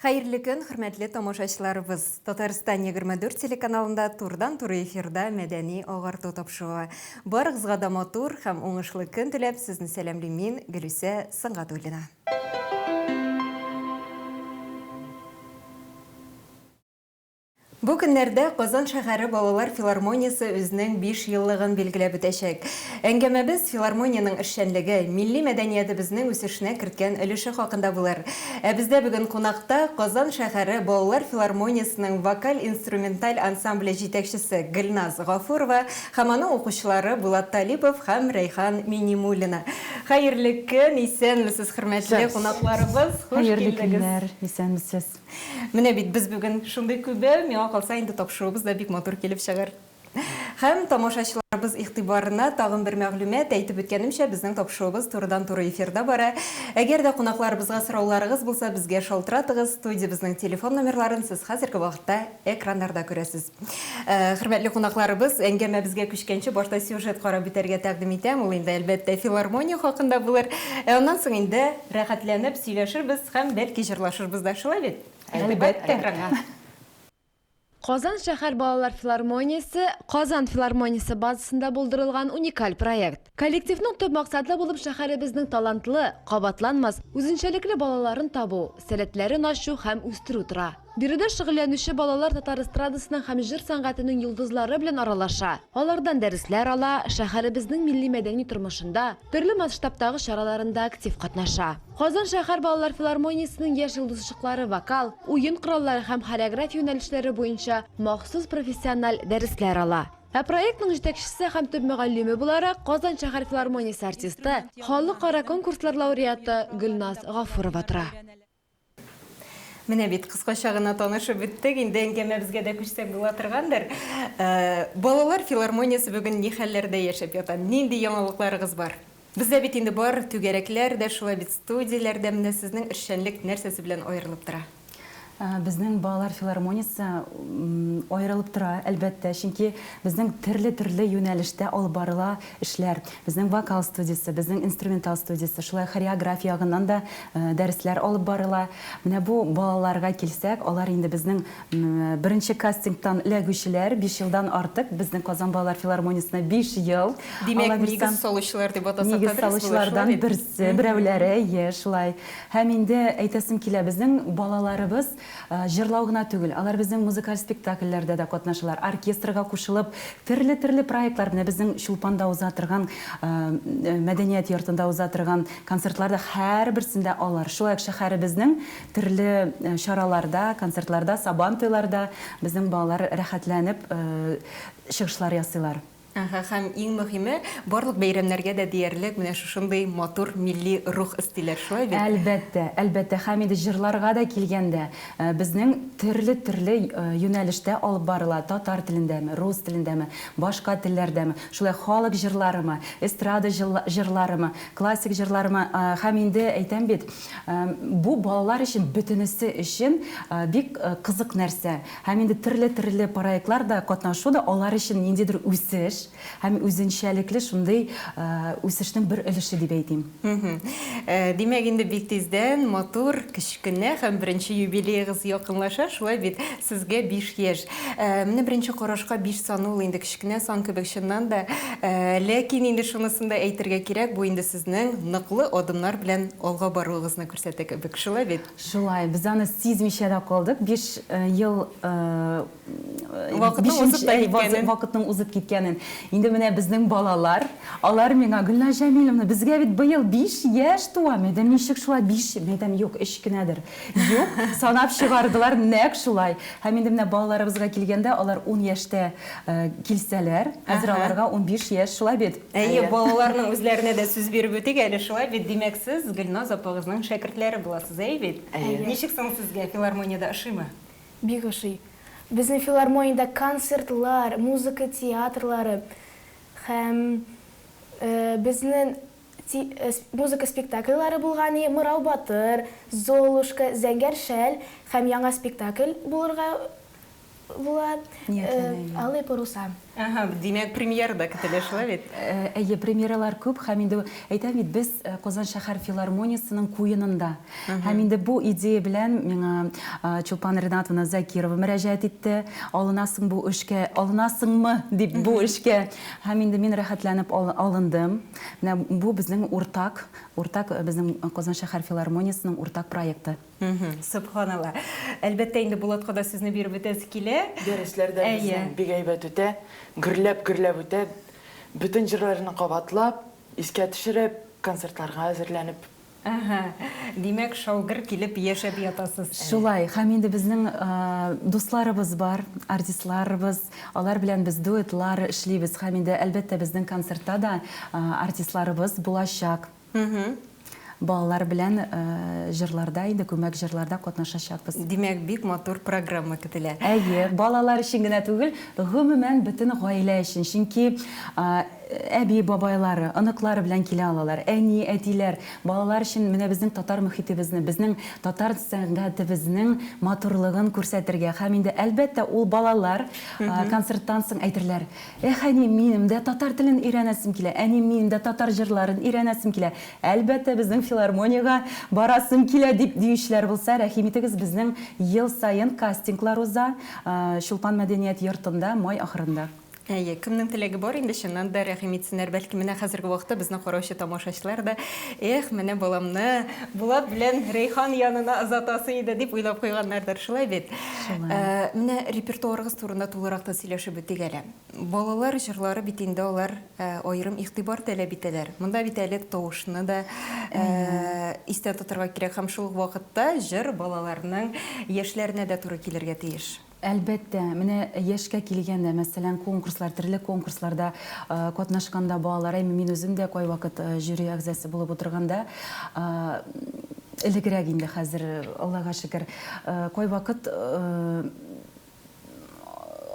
Хәерле көн, хөрмәтле тамашачыларыбыз. Татарстан 24 телеканалында турдан-туры эфирда мәдәни агарту тапшыруы. Барыгызга да матур һәм уңышлы көн теләп, сезне сәламлим мин, Гөлүсә Сынгатуллина. Бу көннәрдә Казан шәһәре балалар филармониясе үзенең 5 еллыгын билгеләп үтәчәк. Әңгәмәбез филармониянең эшчәнлеге, милли мәдәниятебезнең үсешенә керткән өлеше хакында булыр. Ә бездә бүген кунакта Казан шәһәре балалар филармониясенең вокаль-инструменталь ансамбле җитәкчесе Гөлназ Гафурова һәм аның укучылары Булат Талипов һәм Рәйхан Минимуллина. Хәерле көн, исәнмесез хөрмәтле кунакларыбыз, хуш килдегез. Хәерле көннәр, исәнмесез. Менә бит без бүген шундый күбе, миңа калса инде тапшыруыбыз да бик матур килеп чыгыр. Һәм тамашачыларыбыз игътибарына тагын бер мәгълүмат, әйтеп үткәнемчә, безнең тапшыруыбыз турыдан туры эфирда бара. Әгәр дә кунакларыбызга сорауларыгыз булса, безгә шалтыратыгыз, студиябезнең телефон номерларын сез хәзерге вакытта экраннарда күрәсез. Хөрмәтле кунакларыбыз, әңгәмәбезгә күчкәнче башта сюжет карап үтәргә тәкъдим итәм. Ул инде, әлбәттә, филармония хакында булыр. Ә аннан соң инде рәхәтләнеп сөйләшербез һәм, бәлки, җырлашырбыз да, шулай бит? Әлбәттә. Экранга. Казан шәһәр балалар филармониясе Казан филармониясе базасында булдырылган уникаль проект. Коллективның төп максаты булып шәһәребезнең талантлы, кабатланмас, үзенчәлекле балаларын табу, сәләтләрен ачу һәм үстерү тора. Биредә шөгыльләнүче балалар татар эстрадасының һәм җыр сәнгатенең йолдызлары белән аралаша, алардан дәресләр ала, шәһәребезнең милли-мәдәни тормышында, төрле масштабтагы чараларында актив катнаша. Казан шәһәр балалар филармониясенең яшь йолдызчыклары вокал, уен кораллары һәм хореография юнәлешләре буенча махсус профессиональ дәресләр ала. Ә проектның җитәкчесе һәм төп мөгаллиме буларак Казан шәһәр филармониясе артисты, халыкара конкурслар лауреаты Гөлназ Гафурова тора. Менә бит, кыскача гына танышып үттек, инде әңгәмәбезгә дә күчсәк була торгандыр. Балалар филармониясе бүген ни хәлләрдә яшәп ята? Нинди яңалыкларыгыз бар? Бездә бит инде бар, түгәрәкләр дә шулай бит, студияләр дә, менә сезнең эшчәнлек нәрсәсе белән аерылып тора? Безнең балалар филармониясе аерылып тора, әлбәттә, чөнки безнең төрле-төрле юнәлештә алып барыла эшләр. Безнең вокал студиясе, безнең инструментал студиясе, шулай хореография ягыннан да дәресләр алып барыла. Менә бу балаларга килсәк, алар инде безнең Беренче кастингтан эләгүчеләр биш елдан артык безнең Казан балалар филармониясенә биш ел. Димәк, нигез салучылар дип атасак та дөрес булыр, шулай бит? Нигез салучылардан берсе, берәүләре, ие, шулай. Һәм инде әйтәсем килә, безнең балаларыбыз җырлау гына түгел, алар безнең музыкаль спектакльләрдә дә катнашалар, оркестрга кушылып, төрле-төрле проектлар, менә безнең Чулпанда уза торган, мәдәният йортында уза торган концертларда һәрберсендә алар, шулай ук шәһәребезнең Төрле чараларда, концертларда, Сабан туйларда безнең балалар рәхәтләнеп чыгышлар ясыйлар. Әһә, һәм иң мөһиме, барлык бәйрәмнәргә дә диярлек менә шушындый матур милли рух өстиләр, шулай бит? Әлбәттә, әлбәттә, һәм инде җырларга да килгәндә, безнең төрле-төрле юнәлештә алып барыла, татар телендәме, рус телендәме, башка телләрдәме, шулай халык җырларымы, эстрада җырларымы, классик җырларымы, һәм инде әйтәм бит, Бу балалар өчен бөтенесе өчен бик кызык нәрсә. Һәм инде төрле-төрле проектлар да, катнашу да алар өчен ниндидер үсеш һәм үзенчәлекле шундый үсешнең бер өлеше дип әйтим. Димәк, инде бик тиздән матур, кечкенә һәм беренче юбилеегыз якынлаша, шулай бит? Сезгә биш яшь. Менә беренче карашка биш саны ул инде кечкенә сан кебек чыннан да. Ләкин инде шунысын да әйтергә кирәк, бу инде сезнең ныклы адымнар белән алга баруыгызны күрсәтә кебек. Шулай бит? Шулай. Без аны сизмичә дә калдык. Биш ел, вакытның узып киткәнен. Инде менә безнең балалар, алар миңа, Гөлназ Җәмиловна, безгә бит быел биш яшь туа. Мәдәм, ничек шулай биш? Мәдәм, юк, өч кенәдер. Юк, санап чыгардылар нәкъ шулай. Һәм инде менә балаларыбызга килгәндә, алар ун яшьтә килсәләр, хәзер аларга унбиш яшь, шулай бит? Әйе, балаларның үзләренә дә сүз биреп үтик әле, шулай бит? Димәк, сез Гөлназ апагызның шәкертләре буласыз, әйе бит? Әйе. Ничек соң сезгә, филармониядә ошыймы? Бик ошый. Безнең филармониядә концертлар, музыка театрлары һәм безнең. Ти музыка спектакльләре булган и Мырау батыр, Золушка, Зәңгәр шәл һәм яңа спектакль булырга була, Алые паруса. Әһә, димәк, премьера да көтелә, шулай бит? Әйе, премьералар күп һәм инде әйтәм бит, без Казан шәһәр филармониясенең куенында. Һәм инде бу идея белән миңа Чулпан Ринатовна Закирова мөрәҗәгать итте, алынасың бу эшкә, алынасыңмы дип бу эшкә. Һәм инде мин рәхәтләнеп алындым. Менә бу безнең уртак, уртак безнең Казан шәһәр филармониясенең уртак проекты. Сөбханалла. Әлбәттә инде Булатка да сүзне биреп үтәсе килә. Дәресләр дә безнең бик әйбәт үтә. Гөрләп гөрләп үтә. Бөтен җырларны кабатлап, искә төшереп, концертларга әзерләнеп Әһә, димәк, шау-гөр килеп яшәп ятасыз әле. Шулай, һәм инде безнең дусларыбыз бар, артистларыбыз, алар белән без дуэтлар эшлибез, һәм инде, әлбәттә, безнең концертта да артистларыбыз булачак. Балалар белән җырларда, инде күмәк җырларда катнашачакбыз. Димәк, бик матур программа көтелә. Әйе, балалар өчен генә түгел, гомумән, бөтен гаилә өчен, чөнки, Әби, бабайлары, оныклары белән килә алалар. Әни, әтиләр, балалар өчен менә безнең татар мөхитебезне, безнең татар сәнгатебезнең матурлыгын күрсәтергә һәм инде, әлбәттә, ул балалар концерттан соң әйтерләр, Эх, әни, минем дә татар телен өйрәнәсем килә, әни, минем дә татар җырларын өйрәнәсем килә, әлбәттә, безнең филармониягә барасым килә, дип диючеләр булса, рәхим итегез, безнең ел саен кастинглар уза Чулпан мәдәният йортында май ахырында. Әйе, кемнең теләге бар инде, чыннан да рәхим итсеннәр. Бәлки, менә хәзерге вакытта безне караучы тамашачылар да, эх, менә баламны Булат белән Рәйхан янына озатасы иде, дип уйлап куйганнардыр. Шулай бит? Шулай. Менә репертуарыгыз турында тулырак та сөйләшеп үтик әле. Балалар җырлары бит инде алар аерым игътибар таләп итәләр. Монда бит әле тавышны да истә тотарга кирәк һәм шул ук вакытта җыр балаларның яшьләренә дә туры килергә тиеш. Әлбәттә, менә яшькә килгәндә, мәсәлән, конкурслар, төрле конкурсларда катнашканда балалар, әйме мин үзем дә кайвакыт жюри әгъзасы булып утырганда, элегрәк инде, хәзер, Аллага шөкер, кайвакыт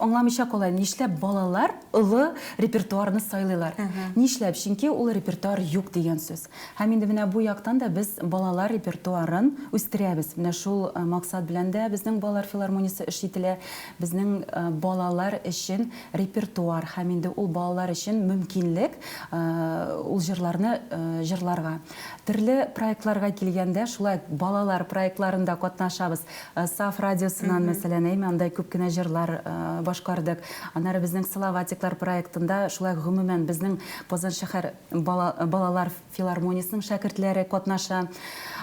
аңламыйча калам, нишләп балалар олы репертуарны сайлыйлар? Нишләп? Чөнки ул репертуар юк дигән сүз. Һәм инде менә бу яктан да без балалар репертуарын үстерәбез. Менә шул максат белән дә безнең балалар филармониясе эш ителә. Безнең балалар өчен репертуар һәм инде ул балалар өчен мөмкинлек ул җырларны җырларга. Төрле проектларга килгәндә, шулай ук балалар проектларында катнашабыз. Саф радиосыннан, мәсәлән, әйме, анда күп кенә җырлар башкардык. Аннары безнең Салаватиклар проектында, шулай ук гомумән безнең Казан шәһәр Балалар филармониясенең шәкертләре катнаша.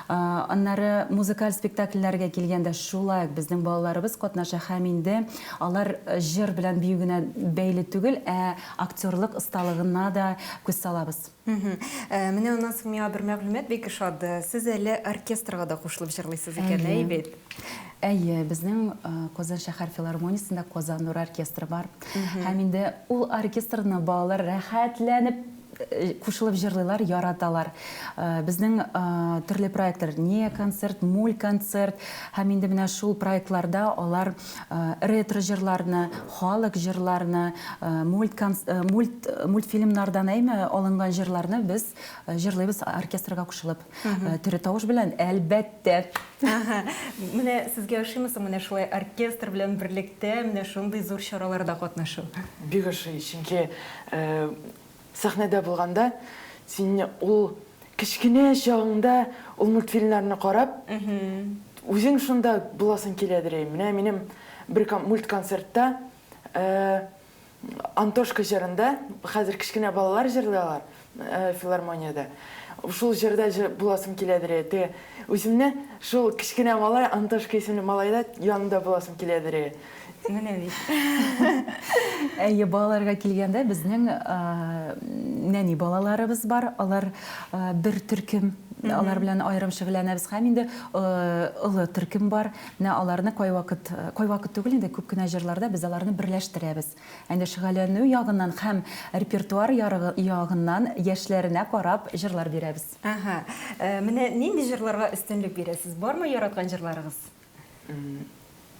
Аннары музыкаль спектакльләргә килгәндә, шулай ук безнең балаларыбыз катнаша һәм инде алар җыр белән бию генә бәйле түгел, ә актерлык осталыгына да күз салабыз. Менә аннан соң миңа бер мәгълүмат бик ошады, сез әле оркестрга да кушылып җырлыйсыз икән, әйе бит? Әйе, безнең Казан шәһәр филармониясендә Казан нуры оркестры бар. Һәм инде ул оркестрны балалар рәхәтләнеп кушылып җырлыйлар, яраталар. Безнең төрле проектлар, не концерт, муль концерт, һәм инде менә шул проектларда алар ретро җырларны, халык җырларны, мульт мульт мультфильмнардан әйме алынган җырларны без җырлыйбыз оркестрга кушылып. Тере тавыш белән, әлбәттә. Ага. Менә сезгә ошыймы соң менә шулай оркестр белән берлектә менә шундый зур чараларда катнашу? Бик ошый, чөнки сәхнәдә булганда син ул кечкенә чагыңда ул мультфильмнарны карап, үзең шунда буласың киләдер. Менә минем бер мультконцертта Антошка җырында, хәзер кечкенә балалар җырлый алар э, филармониядә. Шул җырда җыр буласым киләдер э, те. Үземне шул кечкенә малай Антошка исемле малайда янында буласым киләдер. э. Менә бит. Әйе, балаларга килгәндә, безнең а, нәни балаларыбыз бар. Алар а, бер төркем, алар белән аерым шөгыльләнәбез. Һәм инде а, олы төркем бар. Менә аларны кайвакыт, кайвакыт түгел инде, күп кенә җырларда без аларны берләштерәбез. Ә инде шөгәләнү ягыннан һәм репертуар ярыгы ягыннан яшьләренә карап җырлар бирәбез. Әһә. Менә нинди җырларга өстенлек бирәсез? Бармы яраткан җырларыгыз?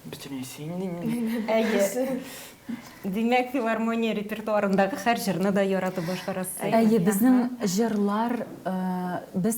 Бөтенесе инде минем. Әйе. Димәк, филармония репертуарындагы һәр җырны да яратып башкарасыз. Әйе, безнең җырлар, без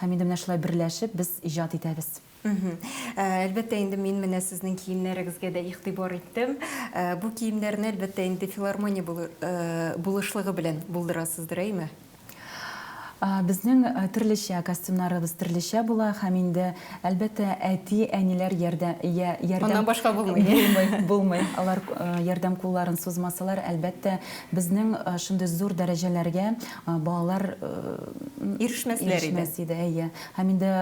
Һәм инде менә шулай берләшеп без иҗат итәбез. Мхм. Әлбәттә инде мин менә сезнең киемнәрегезгә дә игътибар иттем. Бу киемнәрне, әлбәттә инде, филармония булышлыгы белән булдырасыздыр, әйме? Безнең төрлечә, костюмнарыбыз төрлечә була һәм инде, әлбәттә, әти, әниләр ярдә, я, ярдәм. Аннан башка булмый. Булмый, булмый. Алар ярдәм кулларын сузмасалар, әлбәттә, безнең шундый зур дәрәҗәләргә. Балалар ирешмәс иде, әйе. Һәм инде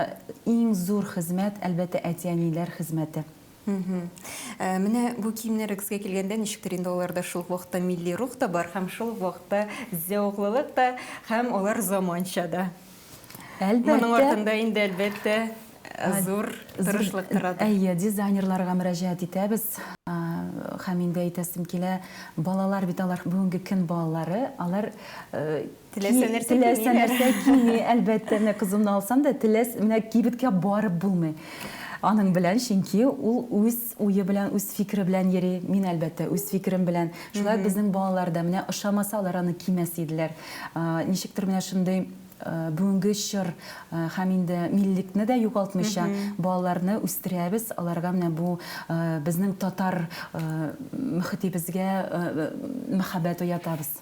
иң зур хезмәт, әлбәттә, әти-әниләр хезмәте. Менә бу киемнәрегезгә килгәндә, ничектер инде аларда шул ук вакытта милли рух та бар һәм шул ук вакытта зәвыклылык та һәм алар заманча да. Әлбәттә. Моның артында инде, әлбәттә. Зур тырышлык торадыр. Әйе, дизайнерларга мөрәҗәгать итәбез. Һәм инде әйтәсем килә, балалар бит алар, бүгенге көн балалары, алар Теләсә нәрсә кими. Теләсә нәрсә кими, әлбәттә. Менә кызымны алсам да, теләс, менә кибеткә барып булмый. Аның белән, чөнки ул үз уе белән, үз фикере белән йөри. Мин, әлбәттә, үз фикерем белән. Шулай ук безнең балалар да, менә ошамаса, алар аны кимәс иделәр. Ничектер менә шундый бүгенге чор һәм инде миллекне дә югалтмыйча балаларны үстерәбез, аларга менә бу безнең татар мөхетебезгә мәхәббәт уятабыз.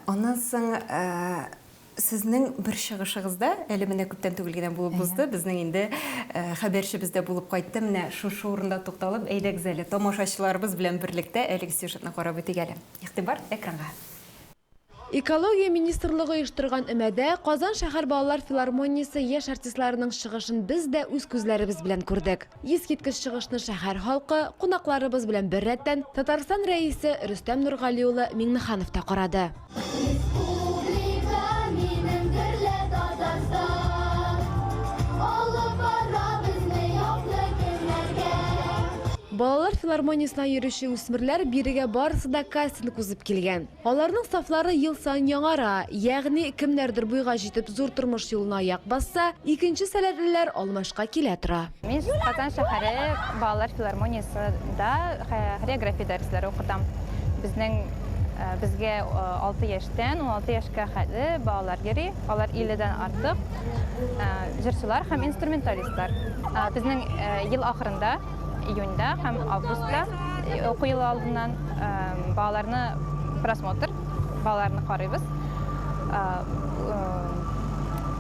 Аннан соң сезнең бер чыгышыгызда, әле менә күптән түгел генә булып узды, безнең инде хәбәрчебез дә булып кайтты, менә шушы урында тукталып, әйдәгез әле тамашачыларыбыз белән берлектә әлеге сюжетны карап үтик әле. Игътибар, экранга. Экология министрлыгы оештырган өмәдә Казан шәһәр балалар филармониясе яшь артистларының чыгышын без дә үз күзләребез белән күрдек. Искиткеч чыгышны шәһәр халкы, кунакларыбыз белән беррәттән, Татарстан Рәисе Рөстәм Нургали улы Миңнеханов та карады. Балалар филармониясенә йөрүче үсмерләр бирегә барысы да кастинг узып килгән. Аларның сафлары ел саен яңара, ягъни кемнәрдер буйга җитеп зур тормыш юлына аяк басса, икенче сәләтлеләр алмашка килә тора. Мин Казан шәһәре балалар филармониясе да хореография дәресләре укытам. Безнең безгә алты яшьтән уналты яшькә хәтле балалар йөри, алар 50 дән артык җырчылар һәм инструменталистлар. Безнең ел ахырында июньда һәм августта уку елы алдыннан балаларны просмотр балаларны карыйбыз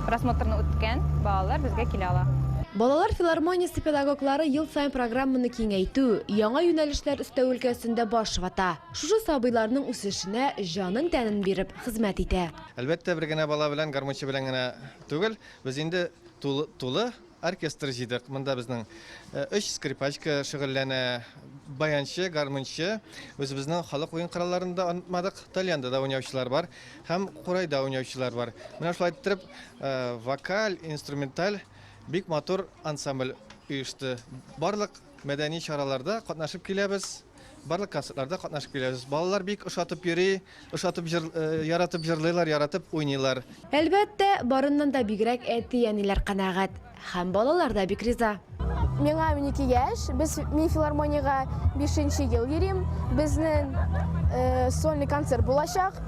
просмотрны үткән балалар безгә килә ала Балалар филармониясе педагоглары ел сайын программаны киңәйтү, яңа юнәлешләр өстәү өлкәсендә баш вата. Шушы сабыйларның үсешенә җанын тәнен биреп хезмәт итә. Әлбәттә, бер генә бала белән, гармунчы белән генә түгел, без инде тулы, тулы Оркестр җыйдык. Монда безнең өч скрипачка шөгыльләнә, баянчы, гармунчы. Үзебезнең халык уен коралларын да онытмадык. Тальянда да уйнаучылар бар һәм курайда уйнаучылар бар. Менә шулай иттереп, вокаль, инструменталь бик матур ансамбль оешты. Барлык Мәдәни чараларда катнашып киләбез, барлык концертларда катнашып киләбез. Балалар бик ошатып йөри, ошатып җыр, э, яратып җырлыйлар, яратып уйныйлар. Әлбәттә, барыннан да бигрәк әти-әниләр канәгать. Һәм балалар да бик риза. Миңа унике яшь, без, мин филармониягә бишенче ел йөрим, безнең э, сольный концерт булачак.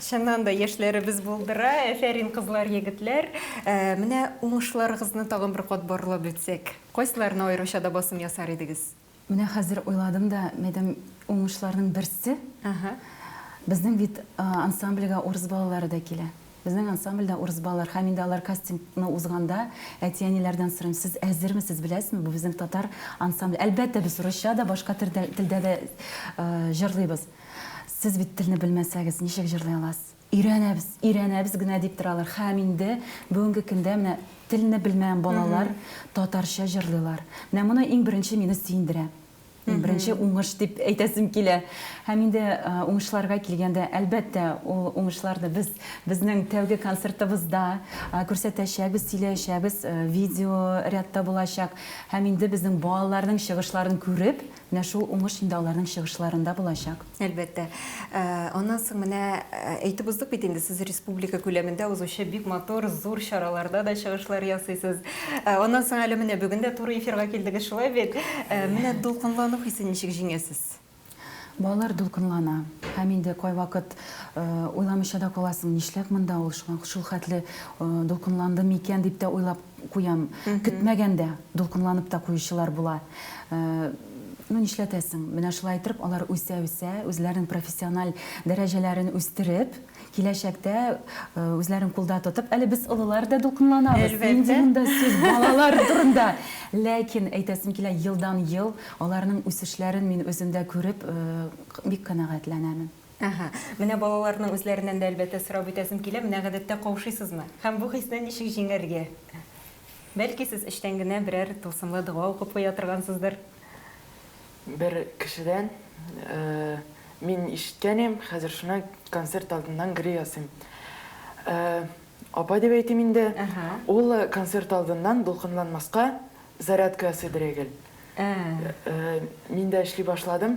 Чыннан да яшьләребез булдыра. Әфәрин, кызлар, егетләр! Менә уңышларыгызны тагын бер кат барлап үтсәк, кайсыларына аеруча да басым ясар идегез? Менә хәзер уйладым да, мәдәм уңышларның берсе, безнең бит ансамбльгә урыс балалары да килә. Безнең ансамбль дә урыс балалар һәм инде алар кастингны узганда, әти-әниләрдән сорыйм, сез әзермесез, беләсезме, бу безнең татар ансамбле. Әлбәттә, без русча да, башка телдә дә җырлыйбыз. Сез бит телне белмәсәгез, ничек җырлый аласыз? Өйрәнәбез, өйрәнәбез генә дип торалар. Һәм инде бүгенге көндә менә телне белмәгән балалар татарча җырлыйлар. Менә моны иң беренче мине сөендерә. Иң беренче уңыш дип әйтәсем килә. Һәм инде уңышларга килгәндә, әлбәттә, ул уңышларны без безнең тәүге концертыбызда күрсәтәчәкбез, сөйләячәкбез, видеоряд та булачак. Һәм инде безнең балаларның чыгышларын күреп, Менә шул уңыш инде аларның чыгышларында булачак. Әлбәттә. Аннан соң менә әйтеп уздык бит инде, сез республика күләмендә узучы бик матур, зур чараларда да чыгышлар ясыйсыз. Аннан соң әле менә бүген дә туры эфирга килдегез, шулай бит? Менә дулкынлану хисен ничек җиңәсез? Балалар дулкынлана. Һәм инде кайвакыт уйламыйча да каласың, нишләп монда ул шулхәтле дулкынланды микән дип тә уйлап Куям. Көтмәгәндә дулкынланып та куючылар була. Ну, нишләтәсең, менә шулай иттереп алар үсә-үсә, үзләренең профессиональ дәрәҗәләрен үстереп, киләчәктә үзләрен кулда тотып, әле без олылар да дулкынланабыз. Нинди монда сүз балалар турында. Ләкин, әйтәсем килә, елдан-ел аларның үсешләрен мин үземдә күреп, бик канәгатьләнәмен. Әһә. Менә балаларның үзләреннән дә, әлбәттә, сорап үтәсем килә, менә гадәттә каушыйсызмы? Һәм бу хисне ничек җиңәргә? Бәлки сез эчтән генә берәр тылсымлы дога укып куя торгансыздыр? Бер кешедән, Мин ишеткән им, хәзер шуны концерт алдыннан гри ясыйм. Апа дип әйтим инде. Ул концерт алдыннан дулкынланмаска зарядка ясыйдыр әгел. Мин дә эшли башладым.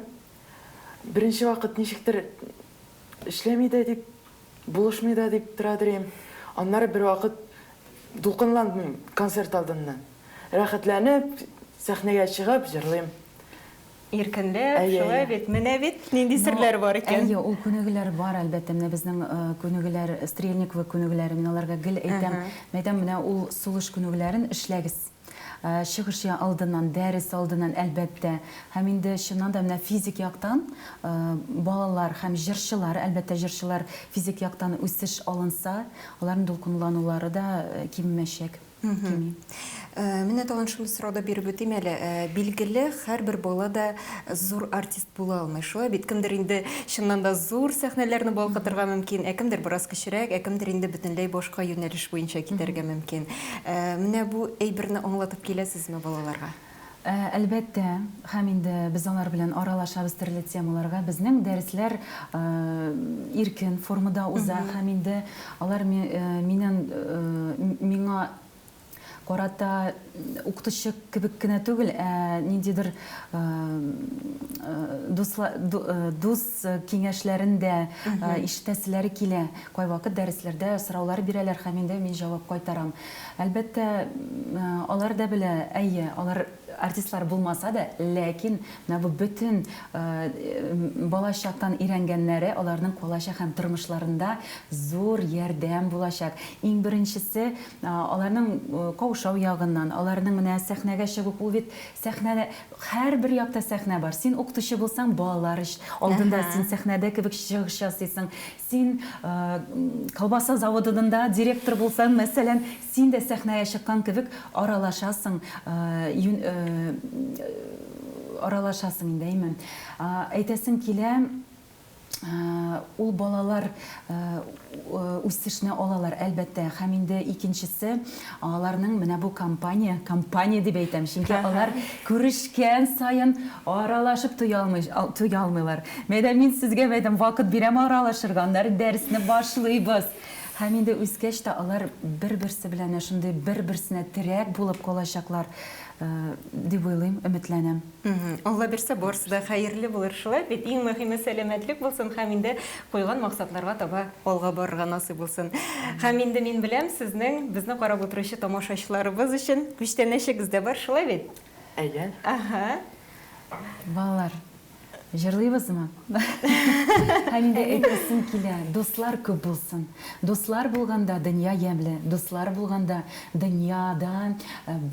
Беренче вакыт ничектер эшләми дә дип, булышмый да дип торадыр идем. Аннары бервакыт дулкынландым концерт алдыннан. Рәхәтләнеп, сәхнәгә чыгып җырлыйм. Иркенләп, шулай бит. Менә бит нинди серләр бар икән. Әйе, ул күнегүләр бар, әлбәттә. Менә безнең күнегүләр, Стрельниковы күнегүләре, мин аларга гел әйтәм. Мин әйтәм, менә ул сулыш күнегүләрен эшләгез. Чыгыш алдыннан, дәрес алдыннан, әлбәттә, һәм инде чыннан да менә физик яктан балалар һәм җырчылар, әлбәттә, җырчылар физик яктан үсеш алынса, аларның дулкынланулары да кимемәчәк, кими. Менә тагын шундый сорау да биреп үтим әле. Билгеле, һәрбер бала да зур артист Була алмый шулай бит, кемдер инде чыннан да зур сәхнәләрне балкытырга мөмкин, ә кемдер бераз кечерәк, ә кемдер инде бөтенләй башка юнәлеш буенча китәргә мөмкин. Ә, менә бу әйберне аңлатып киләсезме балаларга? Ә, әлбәттә, һәм инде без алар белән аралашабыз төрле темаларга. Безнең дәресләр, ә, иркен формада уза һәм инде алар ми, ә, миннән, ә, миңа, карата укытучы кебек кенә түгел, ә ниндидер дус киңәшләрен дә ишетәселәре килә. Кайвакыт дәресләрдә сораулар бирәләр һәм инде мин җавап кайтарам. Әлбәттә, алар да белә, әйе, алар артистлар булмаса да, ләкин менә бу бөтен балачактан өйрәнгәннәре аларның калачак һәм тормышларында зур ярдәм булачак. Иң беренчесе, Аларның каушау ягыннан, аларның менә сәхнәгә чыгу, ул бит сәхнәдә, һәрбер якта сәхнә бар. Син укытучы булсаң, балалар алдында син сәхнәдә кебек чыгыш ясыйсың. Син колбаса заводыдында директор булсаң, мәсәлән, син дә сәхнәгә чыккан кебек аралашасың, аралашасың инде, әйме. Әйтәсем килә. Ул балалар үсешне алалар, әлбәттә, һәм инде икенчесе, аларның менә бу компания, компания дип әйтәм, чөнки алар күрешкән саен аралашып туя алмый, туя алмыйлар. Мәйдәм, мин сезгә, мәйдәм, вакыт бирәм аралашырга, аннары дәресне башлыйбыз. Һәм инде үскәч тә алар бер-берсе белән шундый бер-берсенә терәк булып калачаклар, дип уйлыйм, өметләнәм. Алла бирсә, барысы да хәерле булыр. Шулай бит, иң мөһиме сәламәтлек булсын һәм инде куйган максатларга таба алга барырга насыйп булсын. Һәм инде мин беләм, сезнең, безне карап утыручы тамашачыларыбыз өчен күчтәнәчегез дә бар, шулай бит? Әйе. Аһа. Балалар, җырлыйбызмы? Һәм инде әйтәсем килә, дуслар күп булсын. Дуслар булганда дөнья ямьле, дуслар булганда дөньяда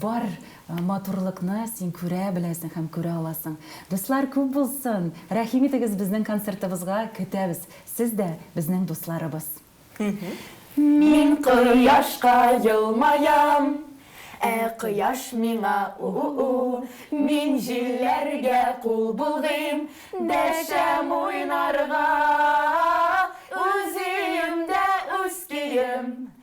бар Матурлыкны син күрә беләсең һәм күрә аласың. Дуслар күп булсын! Рәхим итегез безнең концертыбызга, көтәбез! Сез дә безнең дусларыбыз. Мин кояшка елмаям, Ә кояш миңа у-у-у. Мин җилләргә кул болгыйм, Дәшәм уйнарга үзиемдә үз көем.